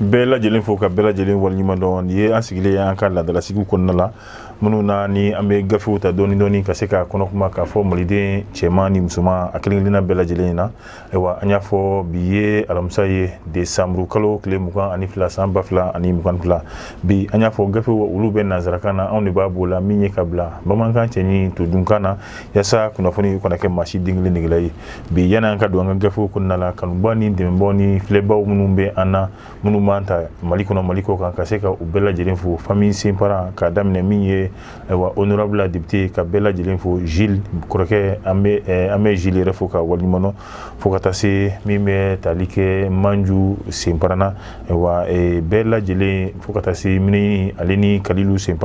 bɛɛ lajɛlen fo ka bɛɛ lajɛlen waleɲuman dɔn nin ye an sigilen an ka laadalasigiw kɔnɔna la minnu na ni an bɛ gafew ta dɔɔni dɔɔni ka se k'a kɔnɔ kuma k'a fɔ maliden cɛman ni musoman a kelen kelenna bɛɛ lajɛlen in na ayiwa an y'a fɔ bi ye alamisa ye desanburu kalo tile mugan ani fila san ba fila ani mugan fila bi an y'a fɔ gafew olu bɛ nansarakan na anw de b'a b'o la min ye ka bila bamanankan cɛɲi todunkan na yasa kunnafoni kana kɛ maa si den kelen negela ye bi yanni an ka don an ka gafew kɔnɔna la kanubaw ni dɛmɛbaw ni filɛbaw minnu bɛ an na minnu b'an ta mali kɔnɔ mali kɔ kan ka se ka u bɛɛ lajɛlen fo famille senpara k'a daminɛ min ye wa honorable député ka bɛɛ lajɛlen fo zi kɔrɔkɛ an bɛ zi yɛrɛ fo k'a waleɲuman dɔn fo ka taa se min bɛ tali kɛ manju senpara na wa bɛɛ lajɛlen fo ka taa se mini ale ni kalilu senp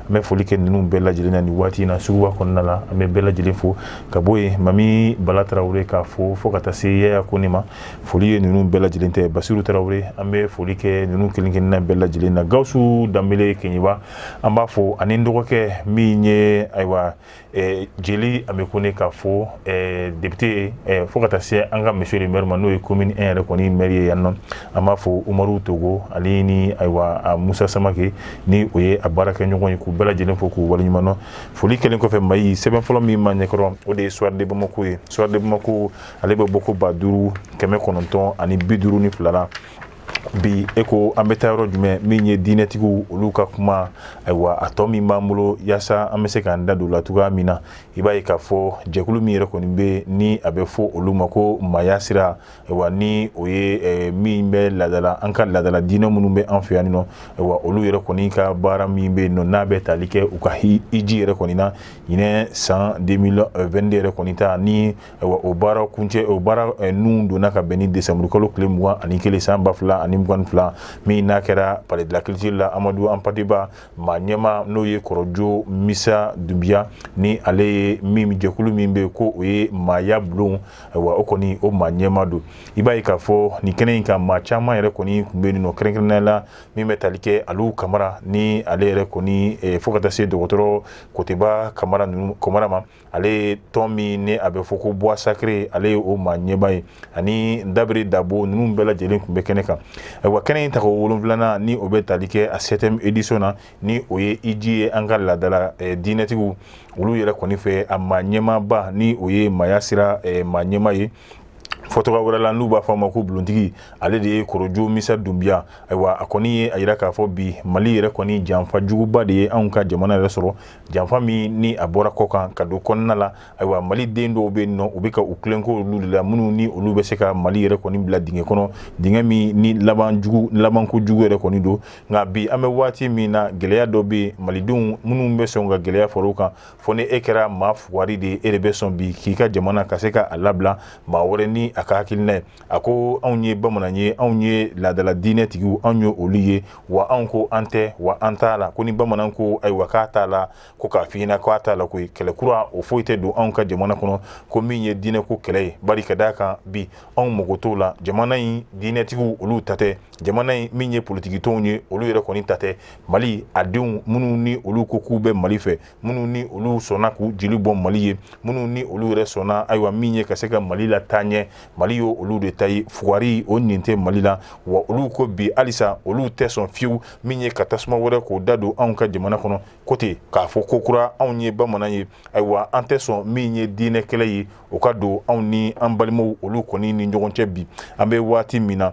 n bɛ foli kɛ ninnu bɛɛ lajɛlen na ni waati in na suguba kɔnɔna la an bɛ bɛɛ lajɛlen fo ka bɔ yen mami bala tarawele k'a fo fo ka taa se yaya kone ma foli ye ninnu bɛɛ lajɛlen ta ye basiru tarawele an bɛ foli kɛ ninnu kelenkelenna bɛɛ lajɛlen na gawusu danbele keɲɛba an b'a fo ani dɔgɔkɛ min ye ayiwa jeli ame kone k'a fo député fo ka taa se an ka monsieur le maire ma n'o ye commune un yɛrɛ kɔni maire ye yan nɔ an b'a fo umaru togo ale ni ayiwa musa samake ni o ye a baarakɛɲɔgɔn ye k'u bɛɛ lajɛlen fo k'u waleɲuman dɔn foli kɛlen kɔfɛ an b'a ye sɛbɛn fɔlɔ min b'an ɲɛkɔrɔ o de ye soir de bamako ye soir de bamako ale bɛ bɔko ba duuru kɛmɛ kɔnɔntɔn ani bi duuru ni fila la bi e ko an bɛ taa yɔrɔ jumɛn min ye diinɛtigiw olu ka kuma ayiwa a tɔ min b'an bolo yaasa an bɛ se k'an da don la cogoya min na i b'a ye k'a fɔ jɛkulu min yɛrɛ kɔni bɛ ni a bɛ fɔ olu ma ko maaya sira ayiwa ni o ye eh, min bɛ laadala an ka laadala diinɛ minnu bɛ an fɛ yan nɔ ayiwa olu yɛrɛ kɔni ka baara min bɛ yen nɔ n'a bɛ tali kɛ u ka hiji yɛrɛ kɔni na ɲinɛ san 2022 yɛrɛ kɔni ta ni o baara kuncɛ o baara ninnu donna ka bɛn ni desanburu kalo tile mugan ani kelen san ba fila ani mugan fila min n'a kɛra palais de la culture la amadu anpate ba maa ɲɛma n'o ye kɔrɔjo misa dunbiya ni ale ye min jɛkulu min bɛ ko o ye maaya bulon wa o kɔni o maa ɲɛma don i b'a ye k'a fɔ nin kɛnɛ in kan maa caman yɛrɛ kɔni tun bɛ yen nɔ kɛrɛnkɛrɛnnɛ la min bɛ tali kɛ alu kamara ni ale yɛrɛ kɔni fo ka taa se dɔgɔtɔrɔ kotɛba kamara kɔmara ma ale tɔn min ni a bɛ fɔ ko bois sacré ale ye o maa ɲɛma ye ani dabiri dabo ninnu bɛɛ lajɛlen tun bɛ kɛnɛ kan ayiwa kɛnɛ in tako wolonfilanan ni o bɛ tali kɛ a septième édition na ni o ye hiji ye an ka laadala eh, diinɛtigiw olu yɛrɛ kɔni fɛ a maa ɲɛmaba ni o ye maaya sira eh, maa ɲɛma ye fɔ tɔgɔ wɛrɛ la n'u b'a fɔ a ma ko bulontigi ale de ye korojo misa dunbiya ayiwa a kɔni ye a yira k'a fɔ bi mali yɛrɛ kɔni janfa juguba de ye anw ka jamana yɛrɛ sɔrɔ janfa min ni a bɔra kɔ kan ka don kɔnɔna la ayiwa mali den dɔw bɛ nɔ u bɛ ka u kelenko olu de la minnu ni olu bɛ se ka mali yɛrɛ kɔni bila dingɛ kɔnɔ dingɛ min ni labanko jugu yɛrɛ kɔni don nka bi an bɛ waati min na gɛlɛya dɔ bɛ yen malidenw minnu bɛ sɔn ka gɛlɛya fara o kan fɔ ni e kɛra maa fugari de e de bɛ sɔn bi k'i ka jamana ka se ka a labila maa wɛrɛ ni a ka hakilina ye a ko anw ye bamanan ye anw ye laadadala diinɛ tigi anw ye olu ye wa an ko an tɛ wa an t'a la ko ni bamanan ko ayiwa k'a t'a la ko k'a fiɲɛna ko a t'a la koyi kɛlɛ kura o foyi tɛ don anw ka jamana kɔnɔ ko min ye diinɛ ko kɛlɛ ye bari ka d'a kan bi anw mago t'o la jamana in diinɛtigiw olu ta tɛ jamana in min ye politikitɔnw ye olu yɛrɛ kɔni ta tɛ mali a denw minnu ni olu ko k'u bɛ mali fɛ minnu ni olu sɔnna k'u jeli bɔn mali ye minnu ni olu yɛrɛ sɔnna ayiwa min ye ka se ka mali lataa ɲɛ mali y'o olu de ta ye fugari o nin tɛ mali la wa olu ko bi halisa olu tɛ sɔn fiyewu min ye ka tasuma wɛrɛ k'o da don anw ka jamana kɔnɔ ko ten k'a fɔ ko kura anw ye bamanan ye ayiwa an tɛ sɔn min ye diinɛ kɛlɛ ye o ka don anw ni an balimaw olu kɔni ni ɲɔgɔn cɛ bi an bɛ waati min na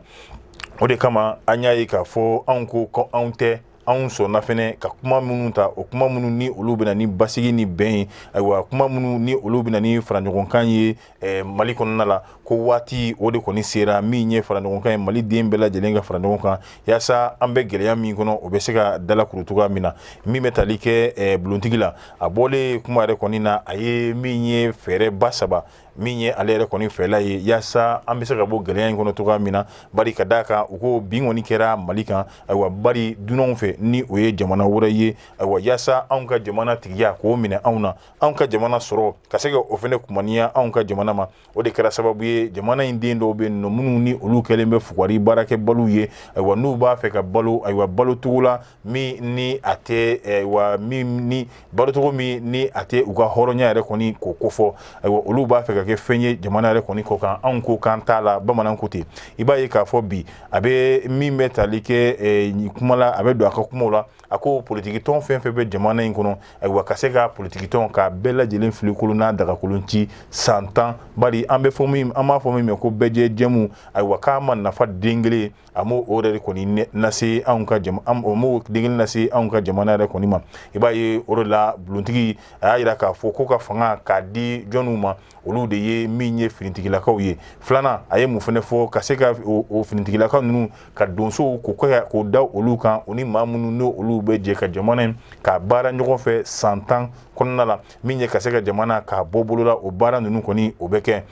o de kama an y'a ye k'a fɔ anw ko ko anw tɛ anw sɔnna fɛnɛ ka kuma minnu ta o kuma minnu ni olu bɛna ni basigi ni bɛn ye ayiwa kuma minnu ni olu bɛna ni faraɲɔgɔnkan ye eh, mali kɔnɔna la ko waati o de kɔni sera min ye faraɲɔgɔnkan ye mali den bɛɛ lajɛlen ka fara ɲɔgɔn kan yaasa an bɛ gɛlɛya min kɔnɔ o bɛ se ka dalakuru cogoya min na min bɛ tali kɛ eh, bulontigi la a bɔlen kuma yɛrɛ kɔni na a ye min ye fɛɛrɛba saba min ye ale yɛrɛ kɔni fɛla ye yaasa an bɛ se ka bɔ gɛlɛya in kɔnɔ cogoya min na bari ka d'a kan u ko binkanni kɛra mali kan ayiwa bari dunanw fɛ ni o ye jamana wɛrɛ ye ayiwa yaasa anw ka jamana tigiya k'o minɛ anw na anw ka jamana sɔrɔ ka se ka o fɛnɛ kumaniya anw ka jamana ma o de kɛra sababu ye jamana in den dɔw bɛ nɔ minnu ni olu kɛlen bɛ fugari baarakɛbaliw ye ayiwa n'u b'a fɛ ka balo ayiwa balocogo la min ni a tɛ eh, wa min ni balocogo min ni a tɛ u ka hɔrɔnya yɛrɛ kɔni k'o kofɔ ayiwa olu b'a fɛ ka kɛ fɛn ye jamana yɛrɛ kɔni kɔ kan anw ko k'an t'a la bamanan ko ten i b'a ye k'a fɔ bi a bɛ min bɛ tali kɛ eh, kuma la a bɛ don a ka kumaw la a ko politikitɔn fɛn fɛn bɛ jamana in kɔnɔ ayiwa ka se ka politikitɔn k'a bɛɛ lajɛlen filenkolon n'a dagakolon ci san tan bari an b'a fɔ min ma ko bɛɛ jɛ jɛmu ayiwa k'a ma nafa den kelen A ma o yɛrɛ kɔni lase anw ka a m'o den kelen lase anw ka jamana yɛrɛ kɔni ma i b'a ye o de la bulontigi a y'a yira k'a fɔ ko ka fanga k'a di jɔnw ma olu de ye min ye finitigilakaw ye filanan a ye mun fɛnɛ fɔ ka se ka finitigilaka ninnu ka donsow k'o da olu kan o ni maa minnu ni olu bɛ jɛ ka jamana in ka baara ɲɔgɔn fɛ san tan kɔnɔna la min ye ka se ka jamana k'a bɔ bolola o baara ninnu kɔni o bɛ kɛ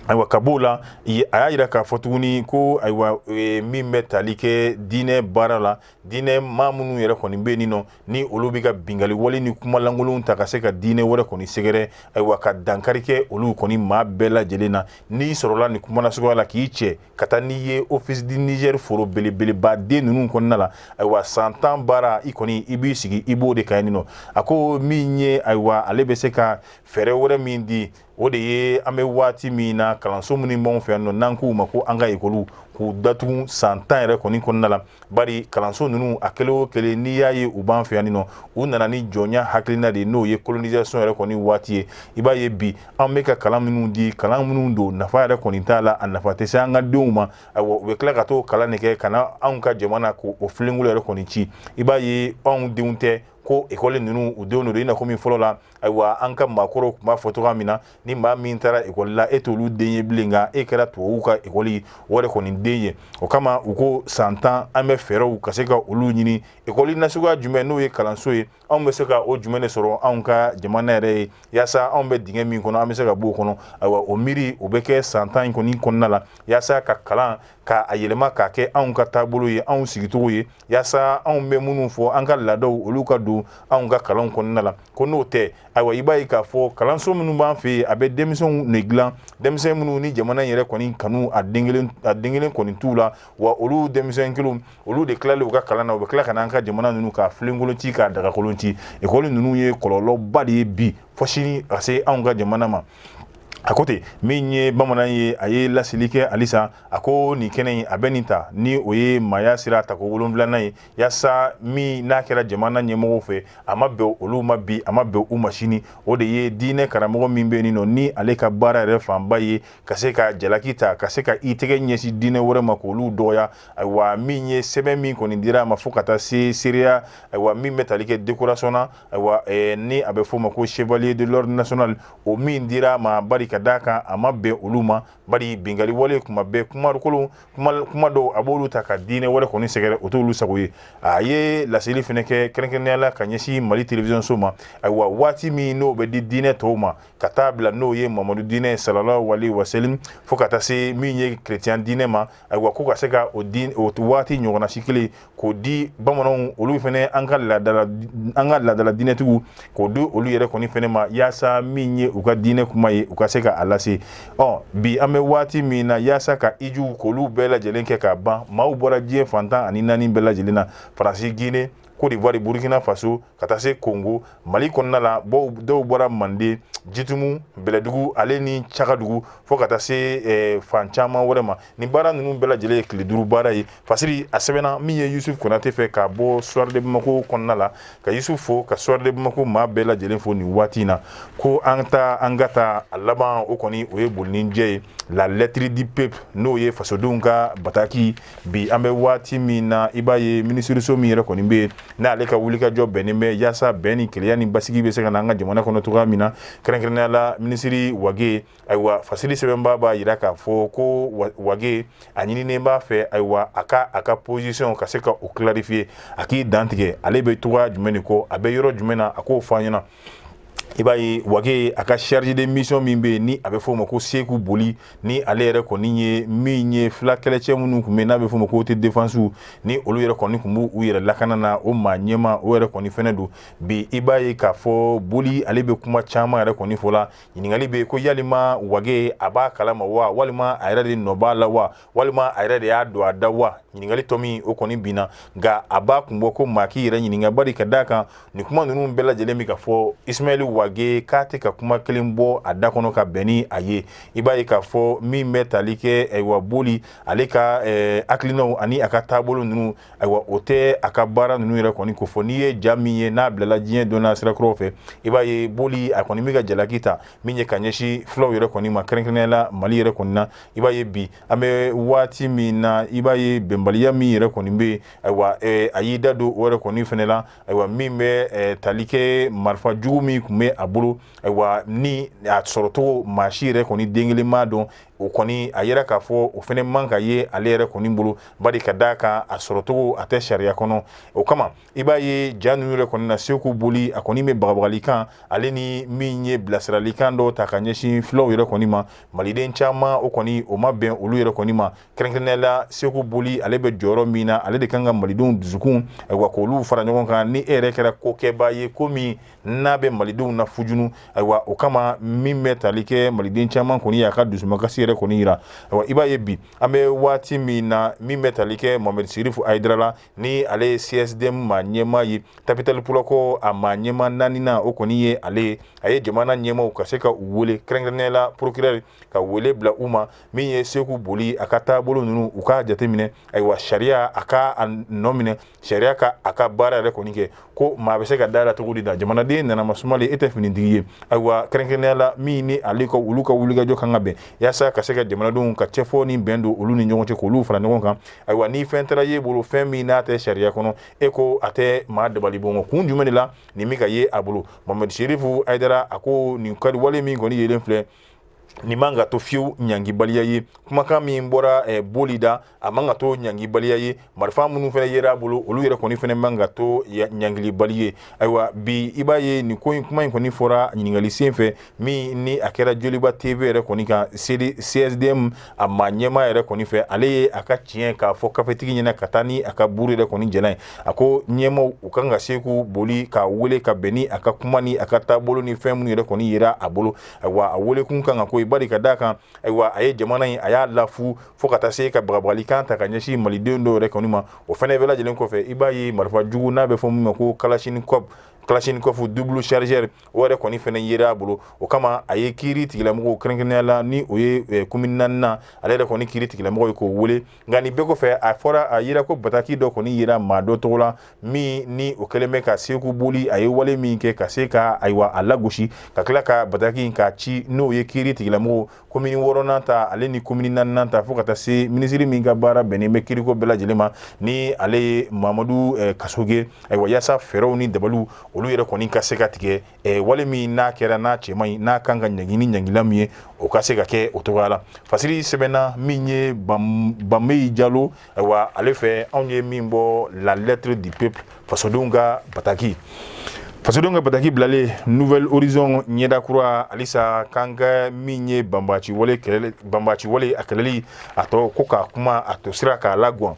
ayiwa ka b'o la a y'a yira k'a fɔ tuguni ko ayiwa e, min bɛ tali kɛ diinɛ baara la diinɛ maa minnu yɛrɛ kɔni bɛ yen nɔ ni olu bɛ ka bingali wale ni kumalankolonw ta ka se ka diinɛ wɛrɛ kɔni sɛgɛrɛ ayiwa ka dankari kɛ olu kɔni maa bɛɛ lajɛlen na n'i sɔrɔla nin kuma nasuguya la k'i cɛ ka taa n'i ye office du Niger foro belebeleba den ninnu kɔnɔna la ayiwa san tan baara i kɔni i b'i sigi i b'o de kan yen nɔ a ko min ye ayiwa ale bɛ se ka fɛɛrɛ wɛrɛ min di o de ye an bɛ waati min na kalanso minnu b'anw fɛ yan nɔ n'an k'u ma ko an ka ekɔliw k'u datugu san tan yɛrɛ kɔni kɔnɔna la bari kalanso ninnu a kelen o kelen n'i y'a ye u b'an fɛ yan nɔ u nana ni jɔnya hakilina de ye n'o ye colonisation yɛrɛ kɔni waati ye i b'a ye bi an bɛ ka kalan minnu di kalan minnu don nafa yɛrɛ kɔni t'a la a nafa tɛ se an ka denw ma ayiwa u bɛ tila ka t'o kalan de kɛ ka na anw ka jamana k'o filenkolo yɛrɛ kɔni ci i b'a ye anw denw tɛ ko ekɔli ninnu u denw don i na komi fɔlɔ la ayiwa an ka maakɔrɔw tun b'a fɔ cogoya min na ni maa min taara ekɔli la e t'olu den ye bilen nka e kɛra tubabuw ka ekɔli o yɛrɛ kɔni den ye o kama u ko san tan an bɛ fɛɛrɛw ka se ka olu ɲini ekɔli nasuguya jumɛn n'o ye kalanso ye anw bɛ se ka o jumɛn de sɔrɔ anw ka jamana yɛrɛ ye yaasa anw bɛ dingɛ min kɔnɔ an bɛ se ka b'o kɔnɔ ayiwa o miiri o bɛ kɛ san tan in kɔni kɔnɔna la yaasa ka kalan k'a yɛlɛma k'a kɛ anw ka taabolo ye anw sigicogo ye yaasa anw bɛ minnu fɔ an ka laadaw olu ka don anw ka kalan kɔnɔna la ko n'o tɛ ayiwa i b'a ye k'a fɔ kalanso minnu b'an fɛ yen a bɛ denmisɛnw ne dilan denmisɛn minnu ni jamana yɛrɛ kɔni kanu a den kelen kɔni t'u la wa olu denmisɛn kelen olu de tilalen u ka kalan na u bɛ tila ka n'an ka jamana ninnu k'a filenkolon ci k'a dagakolon ci ekɔli ninnu ye kɔlɔlɔba de ye bi fo sini ka se anw ka jamana ma a ko ten min ye bamanan ye a ye laseli kɛ halisa a ko nin kɛnɛ in a bɛ nin ta ni o ye maaya sira tako wolonwulanan ye yaasa min n'a kɛra jamana ɲɛmɔgɔw fɛ a ma bɛn olu ma bi a ma bɛn u ma sini o de ye diinɛ karamɔgɔ min bɛ yen nɔ ni ale ka baara yɛrɛ fanba ye ka se ka jalaki ta ka se ka i tɛgɛ ɲɛsin diinɛ wɛrɛ ma k'olu dɔgɔya ayiwa min ye sɛbɛn min kɔni dira a ma fo ka taa se seereya ayiwa min bɛ tali kɛ décoration na ayiwa eh, ni a bɛ f'o ma ko chevalier de l'ordre national o min dira a ma bari ka d'a kan a ma bɛn olu ma bari bingali wale kuma bɛɛ kumakolon kuma dɔw a b'olu ta ka diinɛ wɛrɛ kɔni sɛgɛrɛ o t'olu sago ye a ye laseli fɛnɛ kɛ kɛrɛnkɛrɛnnenya la ka ɲɛsin mali télévision so ma ayiwa waati min n'o bɛ di diinɛ tɔw ma ka taa bila n'o ye mamadu diinɛ sallallahu alaihi wasallam fo ka taa se min ye chrétien diinɛ ma ayiwa ko ka se ka o di o waati ɲɔgɔnna si kelen k'o di bamananw olu fɛnɛ an ka laadala an ka laadala diinɛtigiw k'o di olu yɛrɛ kɔni fɛnɛ ma yaasa min ye u ka diinɛ kuma ye u ka se ka a lase ɔ bi an bɛ waati min na yaasa ka ijuw k'olu bɛɛ lajɛlen kɛ ka ban maaw bɔra diɲɛ fan tan ani naani bɛɛ lajɛlen na faransi gine Cote d'Ivoire, Burkina Faso, ka taa se Congo, Mali kɔnɔna la dɔw bɔra Manden, Jitumu, Bɛlɛdugu ale ni Cakadugu fo ka taa se eh, fan caman wɛrɛ ma. Ni baara ninnu bɛɛ lajɛlen ye tile duuru baara ye. Fasiri a sɛbɛnna min ye Yusuf Konate fɛ ka bɔ Soir de Bamako kɔnɔna la ka Yusuf fo ka Soir de Bamako maa bɛɛ lajɛlen fo nin waati in na ko an ta an ka taa a laban o kɔni o ye boli ni jɛ ye la lettre du peuple n'o ye fasodenw ka bataki bi an bɛ waati min na i b'a ye minisiriso min yɛrɛ kɔni bɛ yen n'ale ka wulikajɔ bɛnnen bɛ yaasa bɛn ni kelenya ni basigi bɛ se ka na an ka jamana kɔnɔ cogoya min na kɛrɛnkɛrɛnnenya la minisiri wage ayiwa fasili sɛbɛnbaa b'a yira k'a fɔ ko wage a ɲininen b'a fɛ ayiwa a ka a ka position ka se ka o clarifier a k'i dantigɛ ale bɛ cogoya jumɛn de kɔ a bɛ yɔrɔ jumɛn na a k'o fɔ an ɲɛna i b'a ye wage a ka chargé de mission min bɛ yen ni a bɛ f'o ma ko seku boli ni ale yɛrɛ kɔni ye min ye fila kɛlɛcɛ minnu kun bɛ n'a bɛ f'o ma ko autodéfensew ni olu yɛrɛ kɔni kun bɛ u yɛrɛ lakana na o maa ɲɛmaa o yɛrɛ kɔni fɛnɛ don bi i b'a ye k'a fɔ boli ale bɛ kuma caman yɛrɛ kɔni fɔ la ɲininkali bɛ ko yalima wage a b'a kalama wa walima a yɛrɛ de nɔ b'a la wa walima a yɛrɛ de y'a don a da wa ɲininkali tɔ min o kɔni binna nka a b'a kun bɔ ko maa k'i yɛrɛ ɲininka bari ka d'a kan nin kuma ninnu bɛɛ lajɛlen bɛ ka fɔ ismaɛli wage k'a tɛ ka kuma kelen bɔ a da kɔnɔ ka bɛn ni a ye i b'a ye k'a fɔ min bɛ tali kɛ ayiwa boli ale ka eh, hakilinaw ani a ka taabolo ninnu ayiwa o tɛ a ka baara ninnu yɛrɛ kɔni ko fɔ n'i ye ja min ye n'a bilala diɲɛ donna sirakɔrɔw fɛ i b'a ye boli a kɔni bɛ ka jalaki ta min ye ka ɲɛsin fulaw yɛrɛ kɔni ma kɛrɛnkɛrɛnnenya la mali yɛrɛ kɔni na i b'a ye bi an bɛ waati min na i b'a ye bɛnbaliya min yɛrɛ kɔni bɛ yen ayiwa eh, a y'i da don o yɛrɛ kɔni fɛnɛ la ayiwa min bɛ eh, tali kɛ marifa jugu min kun bɛ a bolo ayiwa ni a sɔrɔcogo maa si yɛrɛ kɔni den kelen m'a dɔn o kɔni a yɛrɛ k'a fɔ o fɛnɛ man ka ye ale yɛrɛ kɔni bolo bari ka d'a kan a sɔrɔcogo a tɛ sariya kɔnɔ o kama i b'a ye ja ninnu yɛrɛ kɔni na seku boli a kɔni bɛ bagabagalikan ale ni min ye bilasiralikan dɔw ta ka ɲɛsin filaw yɛrɛ kɔni ma maliden caman o kɔni o ma bɛn olu yɛrɛ kɔni ma kɛrɛnkɛrɛnnenya la seku boli ale bɛ jɔyɔrɔ min na ale de kan ka malidenw dusukun ayiwa k'olu fara ɲɔgɔn kan ni e yɛrɛ kɛra kokɛbaa ye ko min n'a bɛ malidenw na fujunu ayiwa o kama min bɛ tali kɛ maliden caman kɔni y'a ka dusumakasi yɛrɛ kɔni yira ayiwa i b'a ye bi an bɛ waati min na min bɛ tali kɛ mohamed sirifu ayidara la ni ale ye CSDM maa ɲɛmaa ye Tabital Pulaaku a maa ɲɛmaa naaninan o kɔni ye ale ye a ye jamana ɲɛmaaw ka se ka u wele kɛrɛnkɛrɛnnenya la procureur ka wele bila u ma min ye seku boli a ka taabolo ninnu u k'a jateminɛ ayiwa sariya a k'a nɔ minɛ sariya ka a ka baara yɛrɛ kɔni kɛ ko maa bɛ se ka da la cogo di da jamanaden nana masumalen e tɛ finitigi ye ayiwa kɛrɛnkɛrɛnya la min ni ale ko olu ka wulikajɔ kan ka bɛn yaasa ka se ka jamanadenw ka cɛfɔ ni bɛn don olu ni ɲɔgɔn cɛ k'olu fara ɲɔgɔn kan ayiwa ni fɛn taara ye bolo fɛn min n'a tɛ sariya kɔnɔ e ko a tɛ maa dabali ban ko kun jumɛn de la nin min ka ye a bolo mohamed serifu ayidara a ko nin kaliwale min kɔni yelen filɛ nin man ka to fiyewu ɲangibaliya ye kumakan min bɔra eh, boli da a man ka to ɲangibaliya ye marifa minnu fɛnɛ yera a bolo olu yɛrɛ kɔni fɛnɛ man ka to ɲangilibali ye ayiwa bi i b'a ye nin ko in kuma in kɔni fɔra ɲininkali sen fɛ min ni a kɛra joliba tv yɛrɛ kɔni kan csdm a maa ɲɛmaa yɛrɛ kɔni fɛ ale ye a ka tiɲɛ k'a fɔ kafetigi ɲɛna ka taa ni a ka buru yɛrɛ kɔni jɛna ye a ko ɲɛmaaw u kan ka seku boli k'a wele ka bɛn ni a ka kuma ni a ka taabolo ni fɛn minnu yɛrɛ kɔni yera a bolo ayiwa a welekun kan ka koyi bari ka d'a kan ayiwa a ye jamana in a y'a lafu fo ka taa se ka bagabagalikan ta ka ɲɛsin malidenw dɔw yɛrɛ kɔni ma o fɛnɛ bɛɛ lajɛlen kɔfɛ i b'a ye marifa jugu n'a bɛ fɔ min ma ko kalasinikɔfu kalasinikɔfu double chargeur o yɛrɛ kɔni fɛnɛ yera a bolo o kama a ye kiiri tigilamɔgɔw kɛrɛnkɛrɛnnenya la ni o ye komini naaninan ale yɛrɛ kɔni kiiri tigilamɔgɔ ye k'o wele nka nin bɛɛ kɔfɛ a fɔra a yira ko bataki dɔ kɔni yera maa dɔ tɔgɔ la min ni o kɛlen bɛ ka seku boli a ye wale min kɛ ka se ka ayiwa a lagosi ka tila ka bataki in k'a ci n'o ye kiiri tigilamɔgɔw komini wɔɔrɔnan ta ale ni komini naaninan ta fo ka taa se minisiri min ka baara bɛnnen bɛ kiiriko bɛɛ lajɛlen ma ni ale ye mamadu eh, kasoge ayiwa yaasa fɛɛrɛw ni dabaliw olu yɛrɛ kɔni ka se ka tigɛ eh, wale min n'a kɛra n'a cɛ man ɲi n'a kan ka ɲangi ni ɲangila min ye o ka se ka kɛ o cogoya la fasiri sɛbɛnna min ye banbeyi jalo ayiwa ale fɛ anw ye min bɔ la lettre du peuple fasodenw ka bataki fasodenw ka bataki bilalen nouvel horizon ɲɛda kura halisa k'an ka min ye banbaci wale a kɛlɛli a tɔ ko k'a kuma a to sira k'a lagwan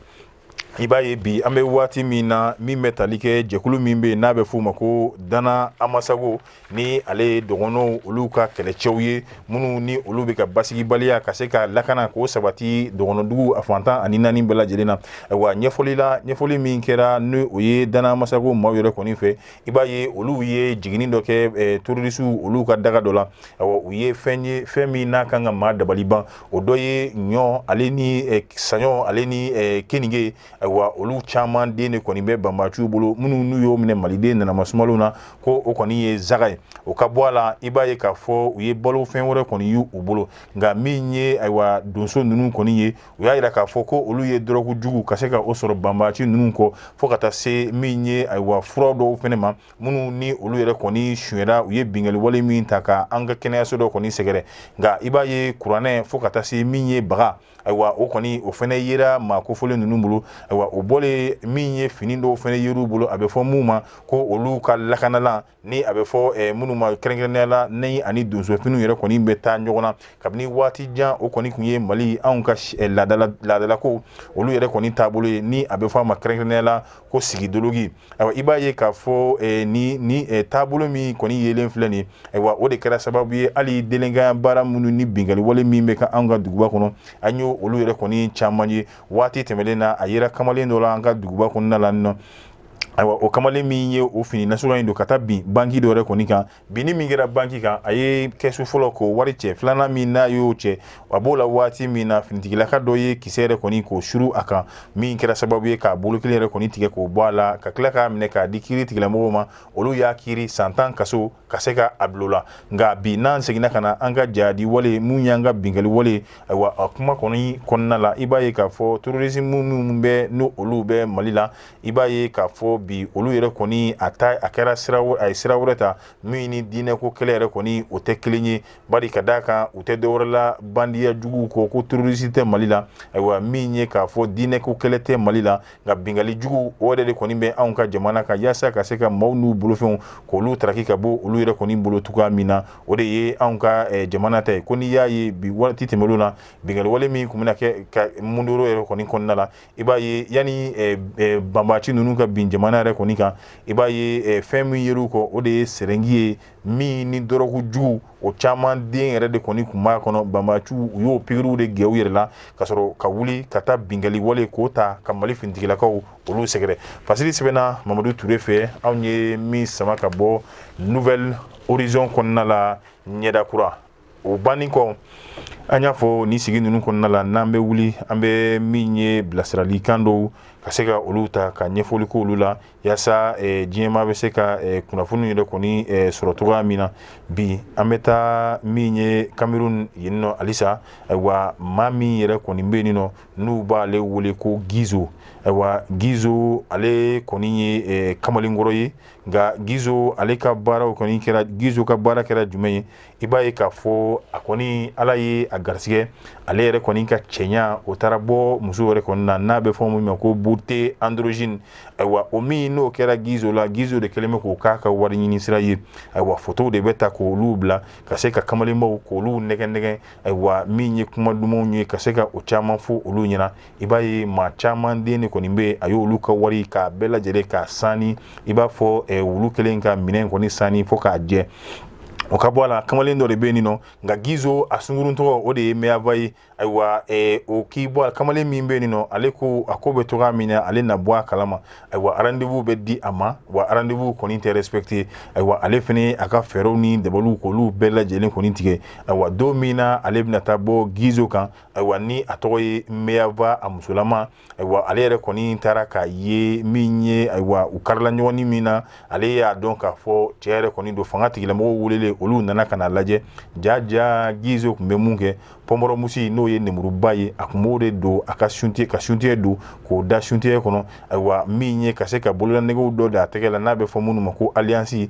i b'a ye bi an bɛ waati min na min bɛ tali kɛ jɛkulu min bɛ n'a bɛ f'o ma ko dana amasago ni ale ye dɔgɔnɔw olu ka kɛlɛcɛw ye minnu ni olu bɛ ka basigibaliya ka se ka lakana k'o sabati dɔgɔnɔdugu a fan tan ani naani bɛɛ lajɛlen na wa ɲɛfɔli la ɲɛfɔli min kɛra ni o ye dana amasago maaw yɛrɛ kɔni fɛ i b'a ye olu ye jiginni dɔ kɛ terorisiw olu ka daga dɔ la u ye fɛn ye fɛn min n'a kan ka maa dabali ban o dɔ ye ɲɔ ale ni eh, saɲɔ ale ni eh, keninge ayiwa olu caman den de kɔni bɛ banbaciw bolo minnu n'u y'o minɛ maliden nana masumalenw na ko o kɔni ye zaga ye o ka bɔ a la i b'a ye k'a fɔ u ye balo fɛn wɛrɛ kɔni y'u bolo nka min ye ayiwa donso ninnu kɔni ye u y'a jira k'a fɔ ko olu ye dɔrɔgu jugu ka se ka o sɔrɔ banbaci ninnu kɔ fo ka taa se min ye ayiwa fura dɔw fɛnɛ ma minnu ni olu yɛrɛ kɔni sunyɛra u ye bingali wale min ta ka an ka kɛnɛyaso dɔ kɔni sɛgɛrɛ nka i b'a ye kuranɛ fo ka taa se min ye baga ayiwa o kɔni o fɛnɛ yera maa kofɔlen ninnu bolo ayiwa o bɔlen min ye fini dɔw fɛnɛ yer'u bolo a bɛ fɔ minnu ma ko olu ka lakanalan ni a bɛ fɔ eh, minnu ma kɛrɛnkɛrɛnnenya la ni ani donsofiniw yɛrɛ kɔni bɛ taa ɲɔgɔn na kabini waati jan o kɔni kun ye mali anw ka eh, laadalako olu yɛrɛ kɔni taabolo ye ni a bɛ fɔ a ma kɛrɛnkɛrɛnnenya la ko sigidoloki ayiwa i b'a ye k'a fɔ eh, ni ni eh, taabolo min kɔni yelen filɛ nin ayiwa o de kɛra sababu ye hali delɛnkanya baara minnu ni binkali wale min bɛ ka an ka duguba kɔnɔ an ye olu yɛrɛ kɔni caman ye waati tɛmɛlen na a yera kamalen dɔ la an ka duguba kɔnɔna la nɔ ayiwa o kamalen min ye o fini nasuguya in don ka taa bin banki dɔ yɛrɛ kɔni kan binni min kɛra banki kan a ye kɛsu fɔlɔ k'o wari cɛ filanan min n'a y'o cɛ a b'o la waati min na finitigilaka dɔ ye kisɛ yɛrɛ kɔni k'o suru a kan min kɛra sababu ye k'a bolo kelen yɛrɛ kɔni tigɛ k'o bɔ a la ka tila k'a minɛ k'a di kiritigɛlamɔgɔw ma olu y'a kiri san tan kaso ka se ka a bil'o la nka bi n'an seginna ka na an ka jihadi wale mun y'an ka binkali wale ayiwa a kuma kɔni kɔnɔna la i b'a ye k'a fɔ terrorisme minnu bɛ n'olu bɛ mali la i b'a ye k'a fɔ bi olu yɛrɛ kɔni a kɛra a ye sira wɛrɛ ta min ni diinɛ ko kɛlɛ yɛrɛ kɔni o tɛ kelen ye bari ka d'a kan u tɛ dɔwɛrɛ la bandiya jugu kɔ ko terroriste tɛ Mali la ayiwa min ye k'a fɔ diinɛ ko kɛlɛ tɛ Mali la nka bingali jugu o yɛrɛ de kɔni bɛ anw ka jamana kan yaasa ka se ka maaw n'u bolofɛnw k'olu taraki ka bɔ olu yɛrɛ kɔni bolo cogoya min na o de ye anw ka eh, jamana ta ye ko n'i y'a ye bi waati tɛmɛnlenw na bingali wale min kun bɛna kɛ ka mundoro yɛrɛ kɔni kɔnɔna la i b'a ye yanni eh, eh, banbaci ninnu ka bin jamana yɛrɛ kɔni kan i b'a ye eh, fɛn min yer'u kɔ o de ye sɛrɛngi ye min ni dɔrɔgu jugu o caman den yɛrɛ de kɔni kun b'a kɔnɔ banbaciw u y'o pikiriw de kɛ u yɛrɛ la ka sɔrɔ ka wuli ka taa binkali wale k'o ta ka mali finitigilakaw olu sɛgɛrɛ fasili sɛbɛnna mamadu ture fɛ anw ye min sama ka bɔ nouvel horizon kɔnɔna la ɲɛda kura o banni kɔ an y'a fɔ ni sigi ninnu kɔnɔna la n'an bɛ wuli an bɛ min ye bilasiralikan dɔw ka se ka olu ta ka ɲɛfɔli k'olu la yaasa diɲɛmaa bɛ se ka kunnafoni yɛrɛ kɔni sɔrɔ cogoya min na bi an bɛ taa min ye cameroun yen nɔ halisa ayiwa maa min yɛrɛ kɔni bɛ yen nɔ n'u b'ale wele ko gizo ayiwa gizo ale kɔni ye kamalenkɔrɔ ye nka gizo ale ka baaraw kɔni kɛra gizo ka baara kɛra jumɛn ye i b'a ye k'a fɔ a kɔni ala ye a garisɛgɛ ale yɛrɛ kɔni ka cɛɲa o taara bɔ muso yɛrɛ kɔni na n'a bɛ fɔ min ma ko beauté androgyne ayiwa o min n'o kɛra gizo la gizo de kɛlen bɛ k'o k'a ka wari ɲini sira ye ayiwa fotow de bɛ ta k'olu bila ka se ka kamalenbaw k'olu nɛgɛnnɛgɛn ayiwa min ye kuma dumanw ye ka se ka o caman fɔ olu ɲɛna i b'a ye maa caman den de kɔni bɛ a y'olu ka wari k'a bɛɛ lajɛlen k'a sani i b'a fɔ eh, wulu kelen ka minɛn kɔni sani fo k'a jɛ o ka bɔ a la kamalen dɔ de bɛ nin nɔ nka gizo a sunkurun tɔgɔ o de ye maeva ye ayiwa eh, o k'i bɔ a kamalen min bɛ nin nɔ ale ko a ko bɛ cogoya min na ale na bɔ a kalama ayiwa rendez-vous bɛ di a ma wa rendez-vous kɔni tɛ respecté ayiwa ale fɛnɛ a ka fɛɛrɛw ni dabaliw k'olu bɛɛ lajɛlen kɔni tigɛ ayiwa don min na ale bɛna taa bɔ gizo kan ayiwa ni a tɔgɔ ye maeva a musolama ayiwa ale yɛrɛ kɔni taara k'a ye min ye ayiwa u karila ɲɔgɔn na min na ale y'a dɔn k'a fɔ cɛ yɛrɛ kɔni don fanga tigilamɔgɔw welelen olu nana ka n'a lajɛ jaja gizo kun bɛ mun kɛ pamplemousse n'o ye nemuruba ye a kun b'o de don a ka soutien don k'o da soutien kɔnɔ ayiwa min ye ka se ka bololanɛgɛw dɔ da a tɛgɛ la n'a bɛ fɔ minnu ma ko alliance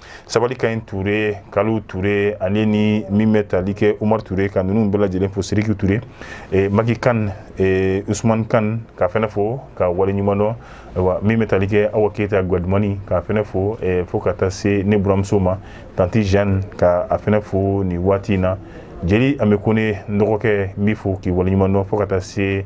sabali ka ɲi ture kalu ture ale ni min bɛ tali kɛ umar ture ka ninnu bɛɛ lajɛlen fo siriki ture eh, maki kan eh, usman kan ka fɛnɛ fo ka wale ɲuman dɔn ayiwa min bɛ tali kɛ awa keyita guadumani ka fɛnɛ fo eh, fo ka taa se ne buramuso ma tanti jeanne ka a fɛnɛ fo nin waati in na jeli amɛ kɔnɛ n dɔgɔkɛ n b'i fo k'i wale ɲuman dɔn fo ka taa se